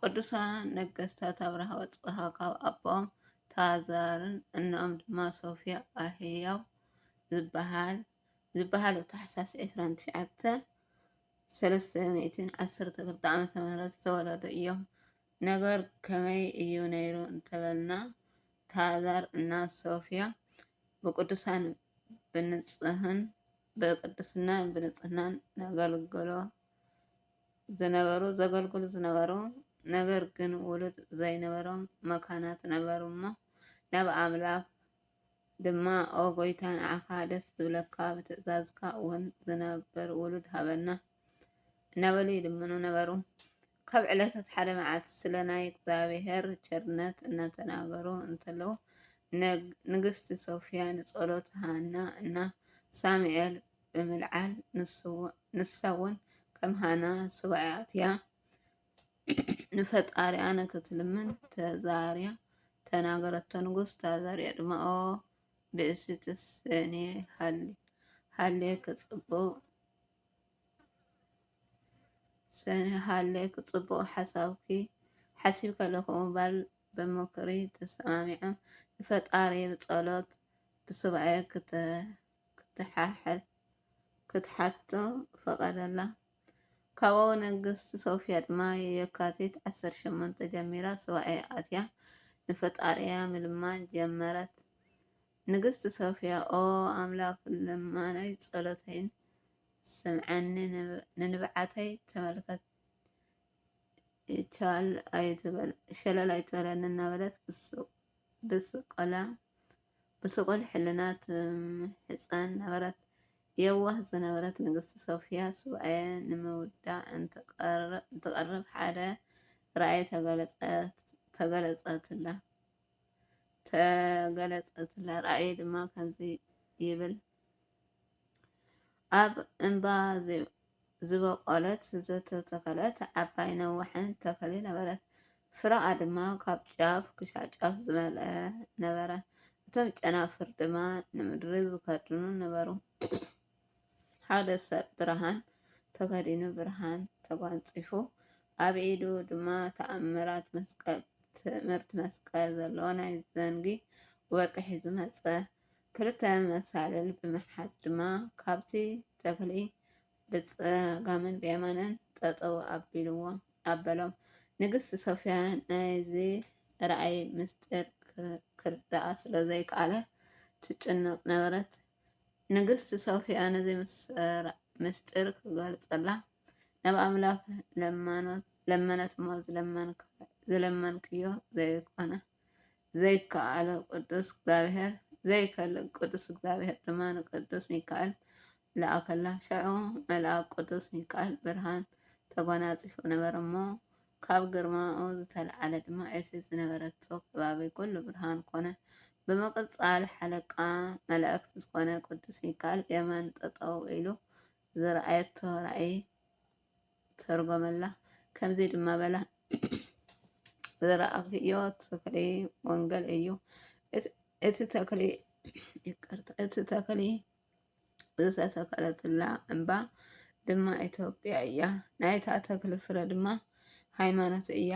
ቅዱሳን ነገስታት ኣብርሃ ወጽብሃ ካብ ኣቦኦም ታዛርን እኖኦም ድማ ሶፍያ ኣህያው ዝበሃሉ ታሕሳስ 29 312 ዓ.ም ዝተወለዱ እዮም። ነገር ከመይ እዩ ነይሩ እንተበልና ታዛር እና ሶፍያ ብቅዱሳን ብንጽህን፣ ብቅድስናን ብንጽህናን ነገልግሎ ዝነበሩ ዘገልግሉ ዝነበሩ ነገር ግን ውሉድ ዘይነበሮም መካናት ነበሩ እሞ ናብ ኣምላኽ ድማ ኦ ጎይታ ንዓኻ ደስ ዝብለካ ብትእዛዝካ እውን ዝነብር ውሉድ ሃበና እናበሉ ይልምኑ ነበሩ። ካብ ዕለታት ሓደ መዓልቲ ስለ ናይ እግዚኣብሔር ቸርነት እናተናገሩ እንተለዉ ንግስቲ ሶፍያ ንጸሎት ሃና እና ሳሙኤል ብምልዓል ንሳውን ከም ሃና ሱባኤ ኣትያ ንፈጣሪኣ ንክትልምን ተዛርያ ተናገረቶ። ንጉስ ታዛርያ ድማ ኦ ብእሲትስ እኔ ሃሌ ክጽቡቅ ጸኒሃለክ ጽቡቅ ሓሳብኪ ሓሲብ ከለኩ ባል ብምክሪ ተሳማሚዕም ንፈጣሪ ብጸሎት ብሱባኤ ክትሓቶ ፈቀደላ ካብኡ ንግስቲ ሶፍያ ድማ የካቲት ዓሰርተ ሸሞንተ ጀሚራ ሱባኤ ኣትያ ንፈጣሪኣ ምልማን ጀመረት ንግስቲ ሶፍያ ኦ ኣምላክ ልማኖይ ጸሎተይን ስምዓኒ ንንብዓተይ ተመልከት ሸለል ኣይትበለኒ እናበለት ብስቁል ሕልና ትምሕጸን ነበረት የዋህ ዝነበረት ንግስቲ ሶፍያ ሱባኤ ንምውዳእ እንትቀርብ ሓደ ራእይ ተገለጸትላ። ተገለጸትለ ራእይ ድማ ከምዚ ይብል ኣብ እምባ ዝበቆለት ዝተተኸለት ዓባይ ነዋሕን ተኸሊ ነበረት። ፍረኣ ድማ ካብ ጫፍ ክሻዕ ጫፍ ዝመልአ ነበረ። እቶም ጨናፍር ድማ ንምድሪ ዝከድኑ ነበሩ። ሓደ ሰብ ብርሃን ተኸዲኑ ብርሃን ተጓንጺፉ ኣብ ኢዱ ድማ ተኣምራት መስቀል ትእምርቲ መስቀል ዘለዎ ናይ ዘንጊ ወርቂ ሒዙ መጸ። ክልተ መሳልል ብምሓዝ ድማ ካብቲ ተኽሊ ብጸጋምን ብየማንን ጠጠው ኣቢልዎ ኣበሎም። ንግስቲ ሶፍያ ናይዚ ራእይ ምስጢር ክርድኣ ስለ ዘይከኣለ ትጭነቕ ነበረት። ንግስቲ ሶፍያ ነዚ ምስጢር ኽትገልጸላ ናብ ኣምላኽ ለመነት'ሞ ዝለመንክዮ ዘይኰነ ዘይከኣሎ ቅዱስ እግዚኣብሔር ዘይከልእ ቅዱስ እግዚኣብሔር ድማ ንቅዱስ ሚካኤል ለኣኸላ። ሽዑ መልኣክ ቅዱስ ሚካኤል ብርሃን ተጐናጺፉ ነበረ'ሞ ካብ ግርማኡ ዝተልዓለ ድማ እቲ ዝነበረቶ ከባቢ ኩሉ ብርሃን ኮነ። ብምቅጻል ሓለቃ መላእክት ዝኮነ ቅዱስ ሚካኣል የማን ጠጠው ኢሉ ዝረኣየቶ ራእይ ተርጎመላ ከምዚ ድማ በላ ዝረኣክዮ ተክሊ ወንገል እዩ እቲ ተክሊ ዝተተከለትላ እምባ ድማ ኢትዮጵያ እያ። ናይታ ተክሊ ፍረ ድማ ሃይማኖት እያ።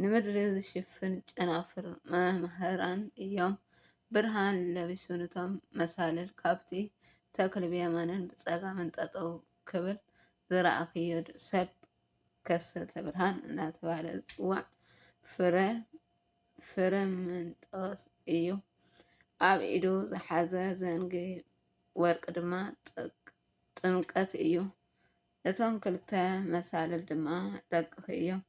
ንምድሪ ዝሽፍን ጨናፍር መምህራን እዮም። ብርሃን ለቢሱ ንቶም መሳልል ካብቲ ተክሊ ብየማንን ብጸጋምን ጠጠው ክብል ዝረኣኽዮ ሰብ ከሰተ ብርሃን እናተባህለ ዝጽዋዕ ፍረ ፍረምንጦስ እዩ። ኣብ ኢዱ ዝሓዘ ዘንጊ ወርቂ ድማ ጥምቀት እዩ። እቶም ክልተ መሳልል ድማ ደቅኺ እዮም።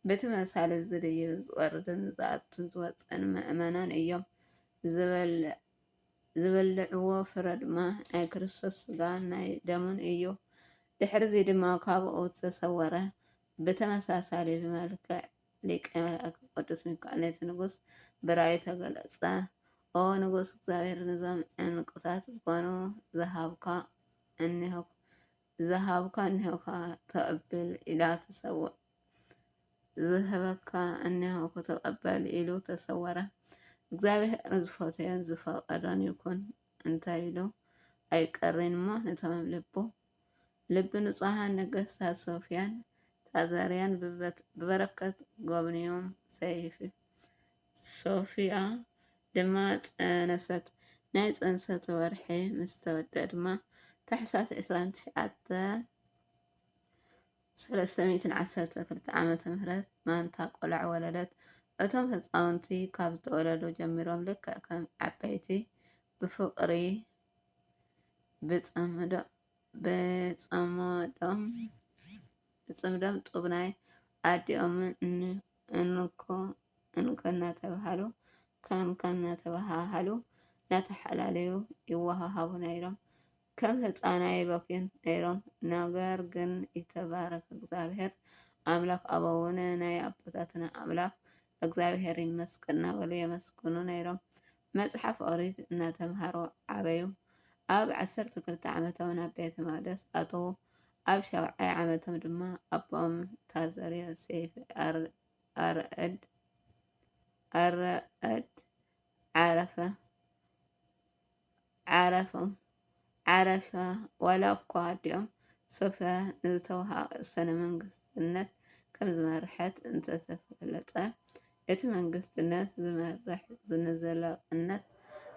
በቲ መሳልል እዚ ድዩ ዝወርድን ዝኣቱን ዝወፅእን ምእመናን እዮም። ዝበልዕዎ ፍረ ድማ ናይ ክርስቶስ ሥጋን ናይ ደሙን እዩ። ድሕርዚ ድማ ካብኡ ተሰወረ። ብተመሳሳሊ መልክዕ ሊቀ መላእክት ቅዱስ ሚካኤል ነቲ ንጉስ ብራእዩ ተገለጸ። ኦ ንጉስ እግዚኣብሔር ንዞም ዕንቁታት ዝኾኑ ዝሃብካ እነሆ ዝሃብካ እነሆካ ተቐብል ኢላ ተሰወ ዝህበካ እነሆ ተቐበል ኢሉ ተሰወረ። እግዚኣብሔር ዝፈተዮን ዝፈቀዶን ይኩን እንታይ ኢሉ ኣይቀሪን እሞ ነቶም ልቡ ልቢ ንጹሃን ነገስታት ሶፍያን ታዛርያን ብበረከት ጎብንዮም ሰይፊ ሶፍያ ድማ ጸነሰት ናይ ጽንሰት ወርሒ ምስ ተወድኣ ድማ ታሕሳስ ዕስራን ትሽዓተን ሰለስተ ሚእትን ዓሰርተ ክልተ ዓመተ ምህረት ማንታ ቆልዑ ወለደት እቶም ህጻውንቲ ካብ ዝተወለዱ ጀሚሮም ልክዕ ከም ዓበይቲ ብፍቅሪ ብፅምዶም ጡብ ናይ ኣዲኦም እንኮ እንኮ እናተብሃሉ ከንኮ እናተብሃሃሉ እናተሓላለዩ ይወሃሃቡ ነይሮም። ከም ህፃን ኣይበኽዩን ነይሮም ነገር ግን ይትባረክ እግዚኣብሔር ኣምላክ ኣበውነ ናይ ኣቦታትና ኣምላክ እግዚኣብሔር ይመስገን እናበሉ የመስግኑ ነይሮም። መጽሓፍ ኦሪት እናተምሃሩ ዓበዩ። ኣብ ዓሰርተ ክልተ ዓመቶም ናብ ቤተ መቕደስ ኣተዉ። ኣብ ሻውዓይ ዓመቶም ድማ ኣቦኦም ታዘርዮ ሴፍ ኣረእድ ዓረፈ። ዓረፎም ዓረፈ ዋላ እኳ ኣዲኦም ሶፍያ ንዝተወሃሃ ቅሰነ መንግስትነት ከም ዝመርሐት እንተተፈለጠ፣ እቲ መንግስቲ ነቲ ዝመርሕ ንዘላቕነት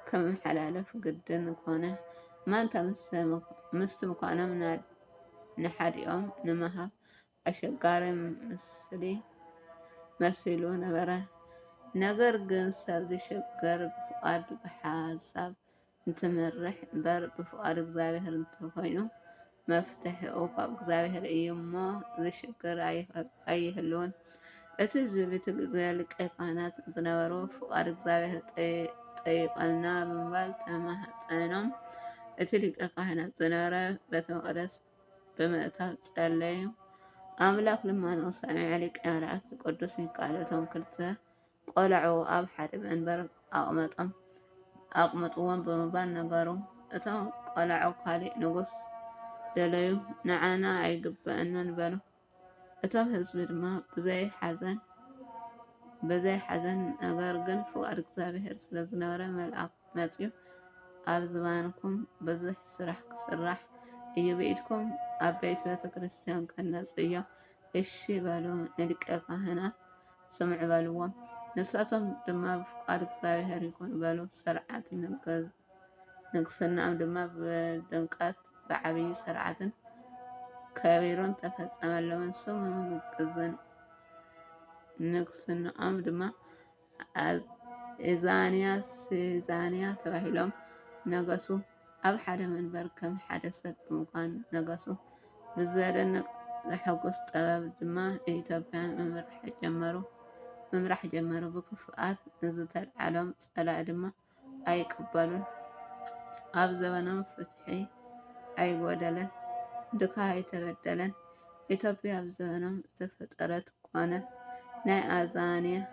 ክመሓላለፍ ግድን ኮነ። ማንታ ምስቲ ምዃኖም ንሓዲኦም ንምሃብ ኣሸጋሪ ምስሊ መሲሉ ነበረ። ነገር ግን ሰብ ዚሸገር ብፍቓድ ብሓሳብ እንትመርሕ እምበር ብፍቓድ እግዚኣብሔር እንተኾይኑ መፍትሒኡ ካብ እግዚኣብሔር እዩ እሞ ዚሸገር ኣይህልውን። እቲ ህዝቢ በቲ ግዜ ሊቀ ካህናት ዝነበሩ ፍቓድ እግዚኣብሔር ጠይቐልና ብምባል ተማሕጸኖም። እቲ ሊቀ ካህናት ዝነበረ ቤተ መቕደስ ብምእታው ጸለዩ። ኣምላኽ ልማኖኡ ሰሚዑ ሊቀ መላእክት ቅዱስ ሚካኤል እቶም ክልተ ቆልዑ ኣብ ሓደ መንበር ኣቕመጦም ኣቕምጥዎም ብምባል ነገሩ። እቶም ቆልዑ ካልእ ንጉስ ደለዩ፣ ንዓና ኣይግበእናን በሉ። እቶም ህዝቢ ድማ ብዘይ ሓዘን ብዘይ ሓዘን ነገር ግን ፍቃድ እግዚኣብሔር ስለ ዝነበረ መልኣክ መጺኡ ኣብ ዝባንኩም ብዙሕ ስራሕ ክስራሕ እዩ ብኢድኩም ዓበይቲ ቤተ ክርስቲያን ከነጽ እዮ እሺ በሉ ንሊቀ ካህናት ስምዑ በልዎም ንሳቶም ድማ ብፍቃድ እግዚኣብሔር ይኩን በሉ ሰርዓት ንገዝ ንግስንኦም ድማ ብድምቀት ብዓብዪ ስርዓትን ከቢሩን ተፈጸመሎምን ስሙ ንግዝን ንግስንኦም ድማ ኣእዛንያ ሲዛንያ ተባሂሎም ነገሱ ኣብ ሓደ መንበር ከም ሓደ ሰብ ብምኳን ነገሱ ብዘደንቅ ዘሐጉስ ጥበብ ድማ ንኢትዮጵያ ምምራሕ ጀመሩ ምምራሕ ጀመሩ ብክፍኣት ንዝተልዓሎም ጸላኢ ድማ ኣይቅበሉን ኣብ ዘበኖም ፍትሒ ኣይጎደለን ድካ ኣይተበደለን ኢትዮጵያ ኣብ ዘበኖም ዝተፈጠረት ኮነት ናይ ኣዛንያን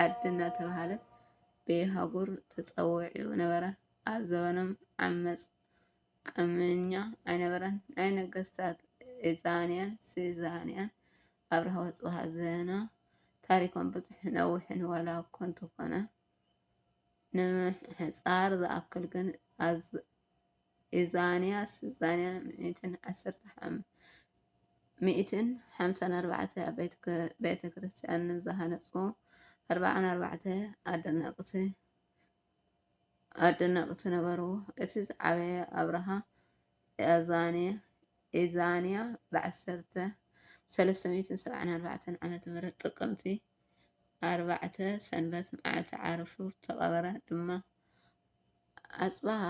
ዓዲ እናተባህለት በየሃጉር ተፀዊዑ ነበረ ኣብ ዘበኖም ዓመፅ ቅምኛ ኣይነበረን ናይ ነገስታት ኤዛንያን ሲዛንያን ኣብርሃ ወጽብሃ ዘና ታሪኮም ብዙሕን ነዊሕን ዋላ እኮ እንተኾነ ንምሕጻር ዝኣክል ግን ኣዝ ኢዛንያስ ዛንያን ሚእትን ዓሰርተ ሓም ሚእትን ሓምሳን ኣርባዕተ ኣብ ቤት ክ- ቤተ ክርስቲያን ዝሃነጹ ኣርባዓን ኣርባዕተ ኣደነቕቲ ኣደነቕቲ ነበሩ። እቲ ዝዓበየ ኣብርሃ ያእዛንያ ብ ዓሰርተ ሰለስተ ሚእትን ሰብዓን ኣርባዕተን ዓመተ ምህረት ጥቅምቲ ኣርባዕተ ሰንበት መዓልቲ ዓርፉ ተቐበረ ድማ። ኣጽብሃ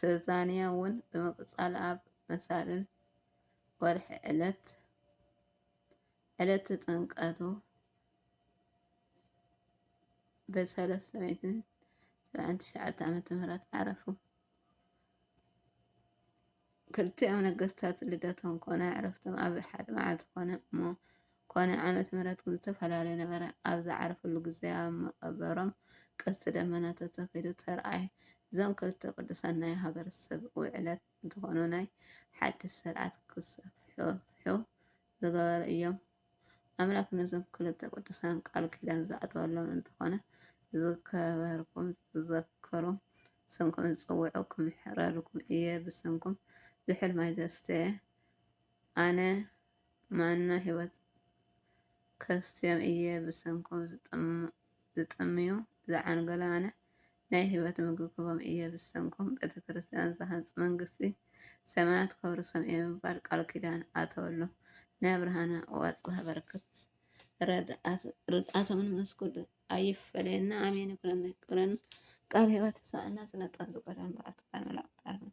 ሰዛንያ እውን ብምቅጻል ኣብ መሳልል ወርሒ ዕለት ዕለተ ጥምቀቱ በሰለ ሰሜትን ሰብዓን ትሽዓተ ዓመተ ምህረት ዓረፉ። ክልቲኦም ነገስታት ልደቶም ኮነ ዕረፍቶም ኣብ ሓደ መዓልቲ ኮነ እሞ ኮነ ዓመት ምህረት ግን ዝተፈላለየ ነበረ። ኣብ ዝዓረፍሉ ግዜ ኣብ መቐበሮም ቀስቲ ደመና ተተኺሉ ተርኣየ። እዞም ክልተ ቅዱሳን ናይ ሃገረሰብ ውዕለት እንትኾኑ ናይ ሓድሽ ስርዓት ክሰፍሑ ዝገበሩ እዮም። ኣምላክ ነዞም ክልተ ቅዱሳን ቃል ኪዳን ዝኣተወሎም እንተኾነ ዝከበርኩም ዝዘከሩ ስምኩም ዝፅውዑ ክምሕረልኩም እየ ብስምኩም ዝሑል ማይ ዘስተየ ኣነ ማና ህይወት ከስትዮም እየ ብስምኩም ዝጠምዩ ዝዓንገሉ ኣነ ናይ ህይወት ምግቢ ክህቦም እየ ብሰንኮም ቤተ ክርስቲያን ዝሃንጹ መንግስቲ ሰማያት ከውርሶም እየ ብምባል ቃል ኪዳን ኣተወሉ። ናይ ኣብርሃና ቁዋጽ ሃበርክት ርድኣቶምን ምስ ኩሉ ኣይፈለየና ኣሜን ይኩነልና ይቀበለና ቃል ህይወት ይብጻሓልና ስለ ጣፍ ዝቀረበ ምብራክ ትካል መላእክት ኣርምሞ።